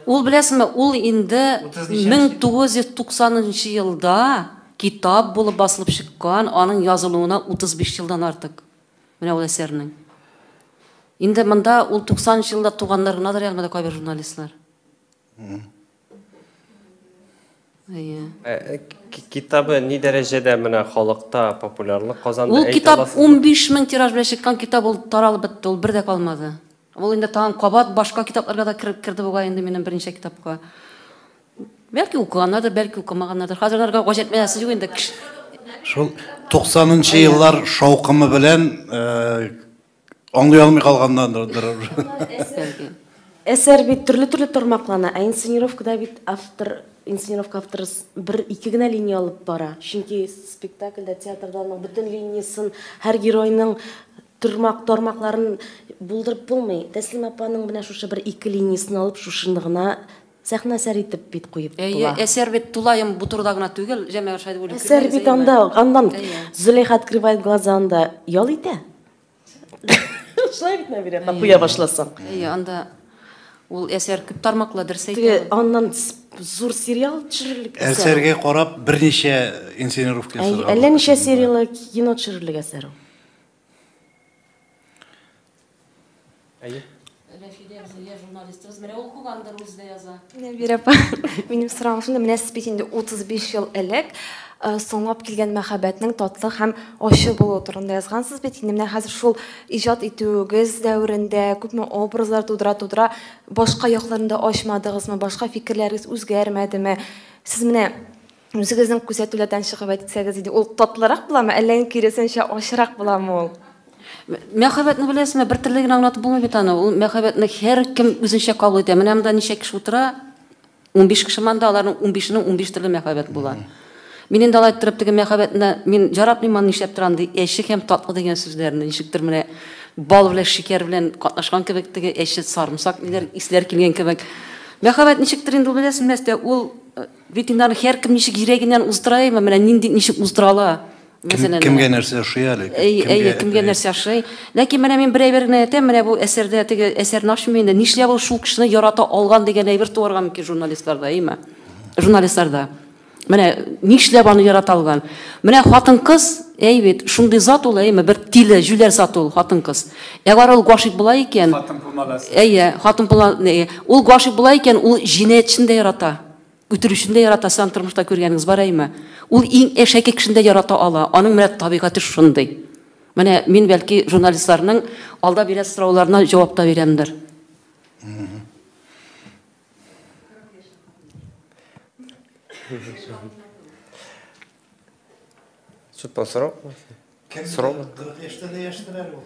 Ул, беләсеңме, ул инде 1990 нчы елда китап булып басылып чыккан, аның язылуына 35 елдан артык. Менә ул әсәрнең. Инде монда ул 90 нчы елда туганнар гынадыр ягъмәдә кайбер журналистлар. Әйе. Э, э, китабы ни дәрәҗәдә менә халыкта популярлык казанды? Ул китап 15 мең тираж белән чыккан китап ул таралып бетте, ул бер дә калмады. Ул инде тагын кабат башка китапларга да кереп керде бугай инде минем берничә китапка. Бәлки укыганнардыр, бәлки укымаганнардыр. Хәзер аларга гаҗәпләнәсе юк инде. Шул 90 нчы еллар шаукымы белән э, Аңлый алмый калганнардыр. Әсәр бит төрле-төрле тармаклана, ә инсценировкада бит автор, инсценировка авторы бер ике генә линия алып бара. Чөнки спектакльдә, театрда аның бөтен линиясын, һәр геройның төрмак тармакларын булдырып булмый. Тәслим апаның менә шушы бер ике линиясын алып шушыны гына сәхнә әсәр итеп бит куеп була. Әйе, әсәр бит тулаем бу турыда гына түгел, Җәмәгать Шайдуллин. Әсәр бит анда, аннан Зөләйха открывает глаза анда ял итә. Шулай бит Нәбирә, куя башласаң. Әйе, анда ул әсәр күп тармаклы дөрес әйтә. Аннан зур сериал төшерелгән. Әсәргә карап берничә инсценировка ясарга. Әллә ничә серияле кино төшерелгән әсәр ул. Әйе. Рәфидә Зөя журналистыбыз. Менә ул кугандыр үзе дә яза. Нәбир апа, минем сорагым шунда, менә сез бит инде 35 ел элек э, соңлап килгән мәхәббәтнең татлы һәм ачы булуы турында язгансыз бит. Инде менә хәзер шул иҗат итүегез дәверендә күпме образлар тудыра-тудыра башка якларында ачмадыгызмы, башка фикерләрегез үзгәрмәдеме? Сез менә Үзегезнең күзәтүләрдән чыгып әйтсәгез иде, ул татлырак буламы, әллә инде киресенчә ачырак буламы ул? Мәхәббәтне беләсезме, бер төрле генә аңлатып булмый бит аны. Ул мәхәббәтне һәркем үзенчә кабул итә. Менә монда ничә кеше утыра? 15 кеше монда, аларның 15-нең 15 төрле мәхәббәт була. Мин инде алай торып теге мәхәббәтне мин яратмыйм аны нишләп торам ди. Әче һәм татлы дигән сүзләрне ничектер менә бал белән шикәр белән катнашкан кебек теге әче сарымсак диләр, исләр килгән кебек. Мәхәббәт ничектер инде ул беләсезме, ул Ветеринар һәркем ничек йөрәгеннән уздыра ме, менә нинди ничек уздыра ала. Мәсәлән, кемгә нәрсә ошый әле? Әйе, кемгә нәрсә ошый. Ләкин менә мин бер әйбер генә әйтәм, менә бу әсәрдә теге әсәрне ачмыйм инде. Нишләп ул шул кешене ярата алган дигән әйбер туарга мөмкин журналистларда, әйеме? Журналистларда. Менә нишләп аны ярата алган? Менә хатын-кыз, әй бит, шундый зат ул, әйеме, бер тиле, җүләр зат ул хатын-кыз. Әгәр ул гашыйк була икән, хатын булмагас. Әйе, хатын була, ул гашыйк була икән, ул җинаятьчене дә ярата. Үтерүчене дә яратасы, аны тормышта күргәнегез бар әйме? Ул иң әшәке кешене дә ярата ала. Аның менә табигате шушындый. Менә мин бәлки журналистларның алда бирә сорауларына җавап та бирәмдер. Чутпан сорау? Сорау? 40 яшьтә дә яшьтер әле ул.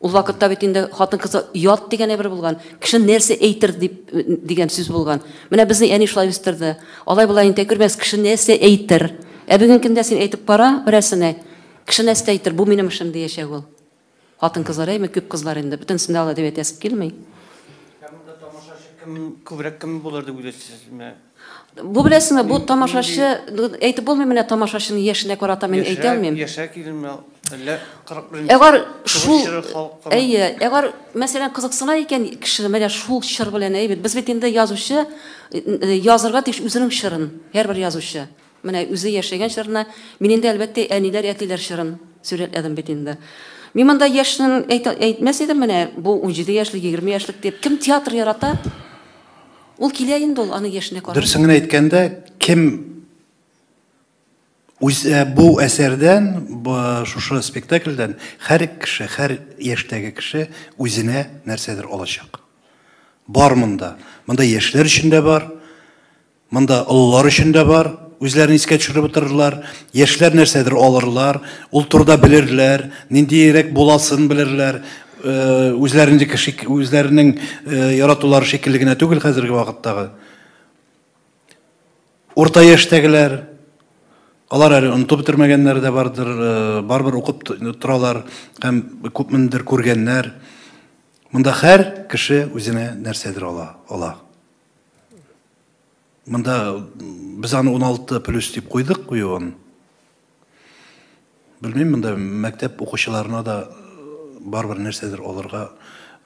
Ул вакытта бит инде хатын-кыз ят дигән әйбер булган. Кеше нәрсә әйтер дип дигән сүз булган. Менә безне әни шулай үстерде. Алай-болай интә күрмәс, кеше нәрсә әйтер. Ә бүгенге көндә син әйтеп кара берәрсенә, кеше нәрсә әйтер, бу минем эшем диячәк ул. Хатын-кызлар, әйме, күп кызлар инде, бөтенесен дә алай дип әйтәсе килми. Ә монда тамашачы кем күбрәк кем булыр дип уйлыйсыз? Менә Бу беләсеңме, бу тамашачы, әйтеп булмый, менә тамашачының яшенә карата мин әйтә алмыйм. Яшә, яшә килен, әллә 41 Әгәр шул, әйе, әгәр мәсәлән кызыксына икән кеше, менә шул чор белән, әйбит. Без бит инде язучы, язырга тиеш үзенең чорын, һәрбер язучы. Менә үзе яшәгән чорны мин инде, әлбәттә, әниләр, әтиләр чорын сурәтләдем бит инде. Мин монда яшьнең әйтмәс идем, менә бу унҗиде яшьлек, егерме яшьлек дип. Кем театр ярата, ул килә инде ул, аның яшенә карамый. Дөресен генә әйткәндә, кем үзе бу әсәрдән, шушы спектакльдән һәр кеше, һәр яшьтәге кеше үзенә нәрсәдер алачак. Бар монда. Монда яшьләр өчен дә бар. Монда олылар өчен дә бар, үзләрен искә төшереп утырырлар, яшьләр нәрсәдер алырлар, ул турыда белерләр, ниндиерәк буласын белерләр, үзләренеке шик, үзләренең яратулары шикелле генә түгел хәзерге вакыттагы. Урта яшьтәгеләр, Алар әле онытып бетермәгәннәр дә бардыр, барыбер укып торалар һәм күпмендер күргәннәр. Монда һәр кеше үзенә нәрсәдер ала, ала. Монда без аны 16 плюс дип куйдык куюын. Белмим, монда мәктәп укучыларына да барбер нәрсәдер алырга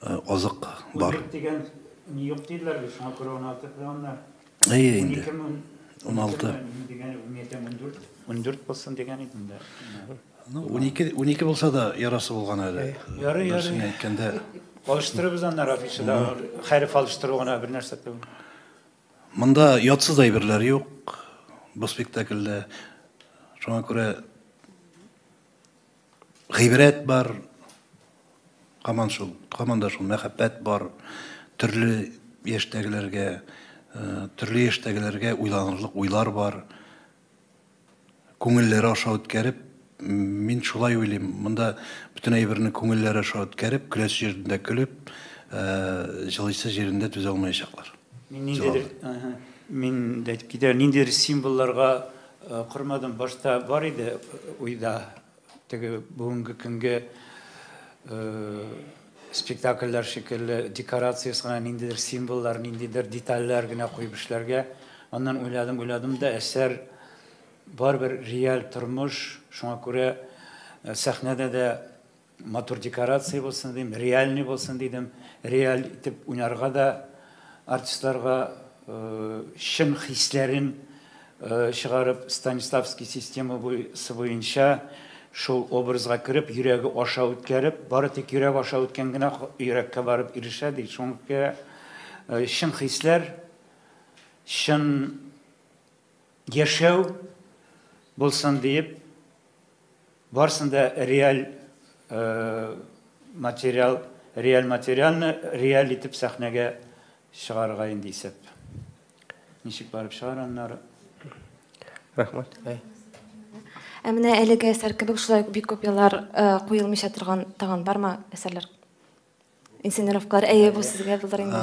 азык бар. Юк дигән, ни юк диләр бит, шуңа күрә 16 плюс. Әйе инде. 16 плюс. 12 плюс 14. 14 булсын дигән идем дә. Ну, унике, унике булса да ярасы булган әле. Ярый, ярый. Нәрсәне әйткәндә. Алыштырыбыз анда Рафиша да хәреф алыштыру гына бер нәрсә түгел. Монда ятсыз әйберләр юк бу спектакльдә. Шуңа күрә гыйбрәт бар. Каман шул, каман да шул мәхәббәт бар. Төрле яшьтәгеләргә, э, төрле яшьтәгеләргә уйланырлык уйлар бар. күңелләре аша үткәреп, мин шулай уйлыйм, монда бөтен әйберне күңелләре аша үткәреп, көләсе җирендә көлеп, җылыйсы җирендә түзә алмаячаклар. Мин ниндидер, мин дә әйтеп китәр, ниндидер символларга кормадым, башта бар иде уйда. Теге бүгенге көнге спектакльләр шикелле декорация ясаган ниндидер символлар, ниндидер детальләр генә куеп эшләргә. Аннан уйладым, уйладым да әсәр барыбер реаль тормыш, шуңа күрә э, сәхнәдә дә матур декорация булсын дидем, реальный булсын дидем, реаль итеп уйнарга да Артистларга чын хисләрен чыгарып, Станиславский система сы буенча шул образга кереп, йөрәге аша үткәреп, бары тик йөрәк аша үткән генә йөрәккә барып ирешә, ди. Шуңа күрә чын хисләр, чын. Яшәү булсын диеп, барсын да реаль материал, реаль материалны реаль итеп сәхнәгә чыгарырга инде исәп. Ничек барып чыгар аннары? Рәхмәт. Ә менә әлеге әсәр кебек шулай бик күп еллар куелмыйча торган тагын бармы әсәрләр? Инсинеровклар, әйе, бу сезгә булыр инде.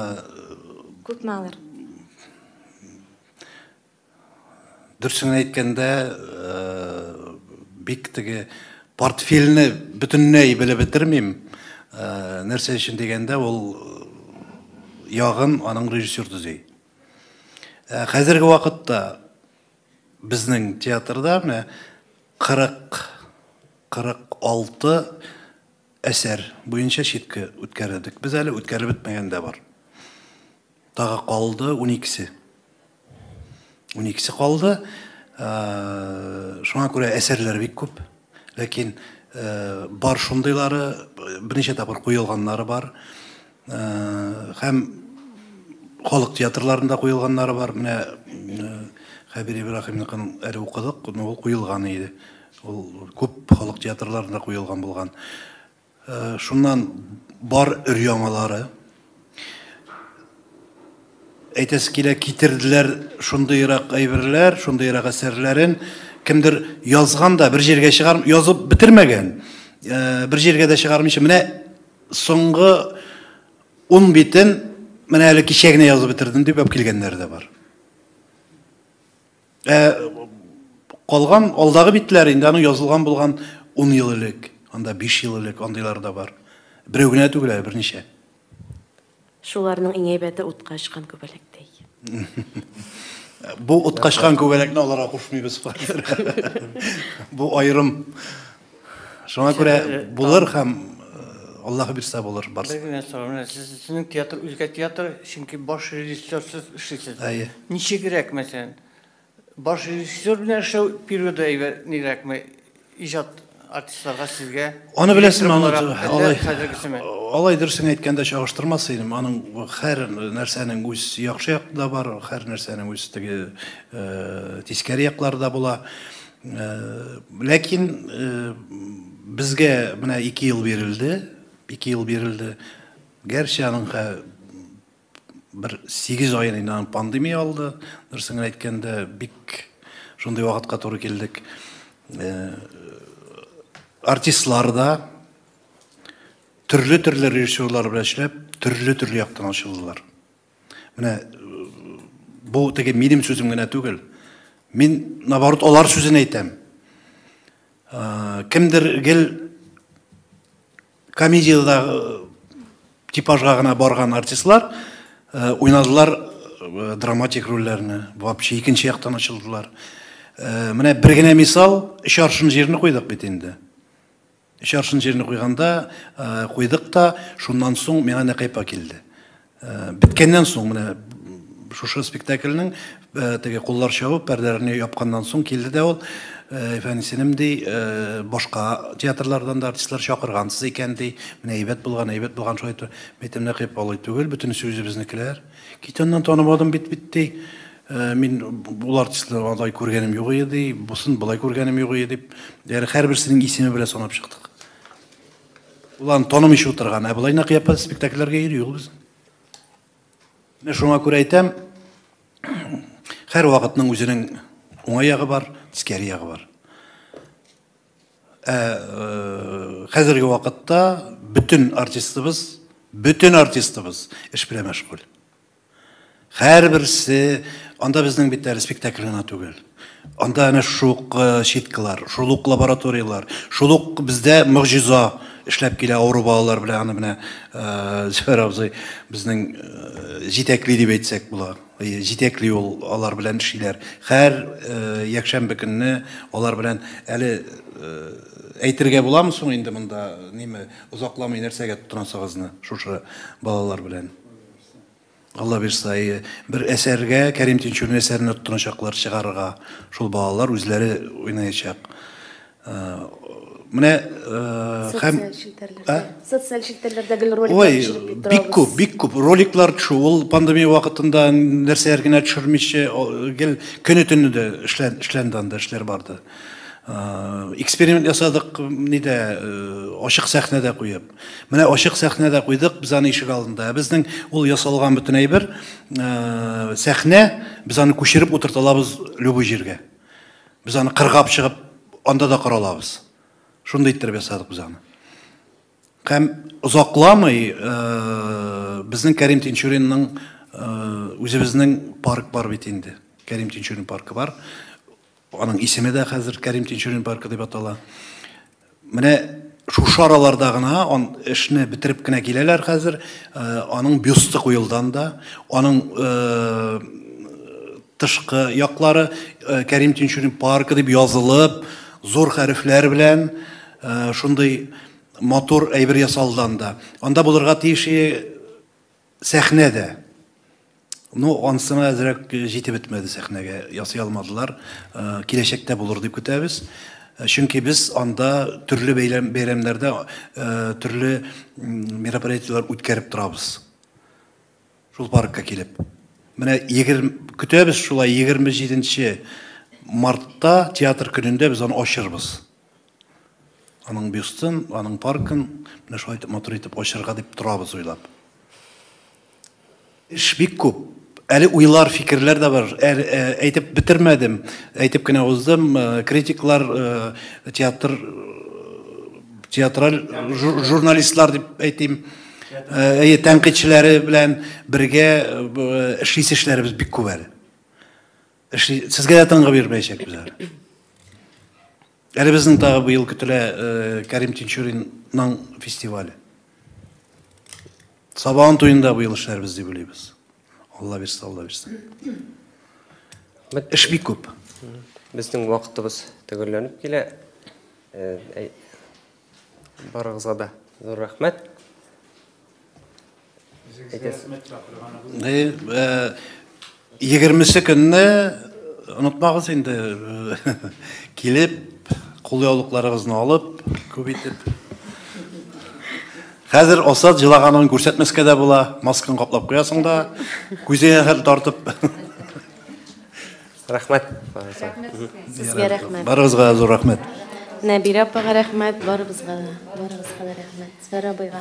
Күпме алыр? Дөресен әйткәндә, бик теге портфельне бөтенләй белеп бетермим. Нәрсә өчен дигәндә, ул ягын аның режиссер төзи. Хәзерге вакытта безнең театрда менә 40, 46 әсәр буенча читка үткәрдек. Без әле үткәреп бетмәгән дә бар. Тагы калды уникесе. Уникесе калды. Шуңа күрә әсәрләр бик күп. Ләкин бар шундыйлары, берничә тапкыр куелганнары бар. Һәм халык театрларында куелганнары бар. Менә Хәбир Ибраһимныкын әле укыдык, ул куелган иде. Ул күп халык театрларында куелган булган. Шуннан бар өр-яңалары. Әйтәсе килә, китерделәр шундыйрак әйберләр, шундыйрак әсәрләрен. Кемдер язган да, бер җиргә чыгарып язып бетермәгән. Бер җиргә дә чыгармыйча, менә Соңгы ун битен менә әле кичә генә язып бетердем дип алып килгәннәр дә бар. Ә калган алдагы битләр инде аның язылган булган 10 ел элек, анда 5 ел элек андыйлар да бар. Берәү генә түгел әле, берничә. Шуларның иң әйбәте утка очкан күбәләк ди. Бу утка очкан күбәләкне аларга кушмыйбыз. Бу аерым. Шуңа күрә булыр һәм Аллаһы бирсә булыр барсы. Бер генә сорау менә сезнең театр үзгә театр, чөнки баш режиссер сез эшлисез. Әйе. Ничегрәк мәсәлән Баш режиссер белән эшләү периоды әйбәтнирәкме иҗат артистларга сезгә? Аны беләсең, аны алай. Алай дөресен әйткәндә чагыштырмас идем. Аның һәр нәрсәнең үз яхшы яклары да бар, һәр нәрсәнең үз теге э, тискәре яклары да була. Э, ләкин э, безгә менә 2 ел бирелде, 2 ел бирелде. Гәрчә аның Бер сигез ай инде аны пандемия алды. Дөресен генә әйткәндә, бик шундый вакытка туры килдек. Артистлар да төрле-төрле режиссерлар белән эшләп, төрле-төрле яктан ачылдылар. Менә бу теге минем сүзем генә түгел. Мин наоборот алар сүзен әйтәм. Кемдер гел Комедиядә типажга гына барган артистлар э, уйнадылар э, драматик рольләрне, вообще икенче яктан ачылдылар. Э, менә бер генә мисал, өч аршын җирне куйдык бит инде. Өч аршын җирне куйганда, куйдык та, шуннан соң миңа Нәкайпа килде. Беткәннән соң, менә шушы спектакльнең теге куллар чабып, пәрдәләрне япканнан соң килде дә ул, Әфәнисенем, ди, башка театрлардан да артистлар чакыргансыз икән, ди, менә әйбәт булган, әйбәт булган, шулай итеп. Мин әйтәм, Нәкыйп, алай түгел, бөтенесе үзебезнекеләр. Кит аннан, танымадым бит, бит, ди. Мин ул артистны алай күргәнем юк иде, ди, бусын болай күргәнем юк иде, дип, ягъни һәрберсенең исеме белән санап чыктык. Ул аны танымыйча утырган. Ә болай нәкъ япа спектакльләргә йөри ул безнең. Менә шуңа күрә әйтәм, һәр вакытның үзенең уңай ягы бар, тискәре ягы бар. Ә э, хәзерге вакытта бөтен артистыбыз, бөтен артистыбыз эш белән мәшгуль. Һәрберсе, анда безнең бит әле спектакль гына түгел. Анда әнә шук э, щиткалар, шул ук лабораториялар, шул ук бездә могҗиза эшләп килә авыру балалар белән аны менә э, Зөфәр абзый безнең э, җитәкли дип әйтсәк була. Җитәкли ул алар белән эшлиләр. Һәр якшәмбе көнне алар белән әле әйтергә буламы соң инде монда неме озакламый нәрсәгә тотынасыгызны шушы балалар белән? Алла бирса, әйе. Бер әсәргә, Кәрим Тинчурин әсәренә тотыначаклар чыгарырга. Шул балалар үзләре уйнаячак. Э, менә э, һәм социаль челтәрләрдә гел роликлар Ой, бик күп, бик күп роликлар төшү. Ул пандемия вакытында нәрсәләр генә төшермичә, гел көне төне дә эшлән, эшләнде анда, эшләр барды. Э, эксперимент ясадык, нидә, ачык сәхнәдә куеп. Менә ачык сәхнә дә куйдык без аны ишек алдында. Ә безнең ул ясалган бөтен әйбер, э, сәхнә, без аны күчереп утырталабыз любой җиргә. Без аны кыргап чыгып, анда да коралабыз. Шундый иттереп ясадык без аны. Һәм озакламый э, безнең Кәрим Тинчуринның э, үзебезнең парк бар бит инде. Кәрим Тинчурин паркы бар. Аның исеме дә хәзер Кәрим Тинчурин паркы дип атала. Менә шушы араларда гына он эшне бетереп кенә киләләр хәзер. Э, аның бюсты куелдан да, аның э, тышкы яклары э, Кәрим Тинчурин паркы дип язылып, зур хәрефләр белән шундый матур әйбер ясалдан да. Анда булырга тиеш Сәхнә дә. Ну, ансына әзрәк җитеп бетмәде сәхнәгә, ясый алмадылар. Киләчәктә булыр дип көтәбез. Чөнки без анда төрле бәйләм, бәйрәмнәрдә төрле мероприятиеләр үткәреп торабыз. Шул паркка килеп. Менә егерме, көтәбез шулай, егерме җиденче мартта, театр көнендә без аны ачырбыз. Аның бюстын, аның паркын менә шулай итеп матур итеп ачырга дип торабыз уйлап. Эш бик күп. Әле уйлар, фикерләр дә бар. Ә, ә, әйтеп бетермәдем. Әйтеп кенә уздым. Э, критиклар, э, театр, театраль жур, журналистлар дип әйтим. Э, әйе, тәнкыйтьчеләре белән бергә эшлисе эшләребез бик күп әле. Эшли, сезгә дә тынгы бирмәячәкбез әле. Әле безнең тагы быел көтелә э, Кәрим Тинчуринның фестивале. Сабан туенда быел эшләрбез дип уйлыйбыз. Алла бирсә, Алла бирсә. Эш бик күп. Безнең вакытыбыз төгәлләнеп килә. Э, Барыгызга да зур рәхмәт. Егермесе көнне онытмагыз инде килеп, кулъяулыкларыгызны алып, күп итеп. Хәзер Асад җылаганын күрсәтмәскә дә була, масканы каплап куясың да, күзеңә хәтле тартып. Рәхмәт. Рәхмәт сезгә рәхмәт. Барыгызга зур рәхмәт. Нәбирә апага рәхмәт, барыбызга да. Барыбызга да рәхмәт. Сара абыйга.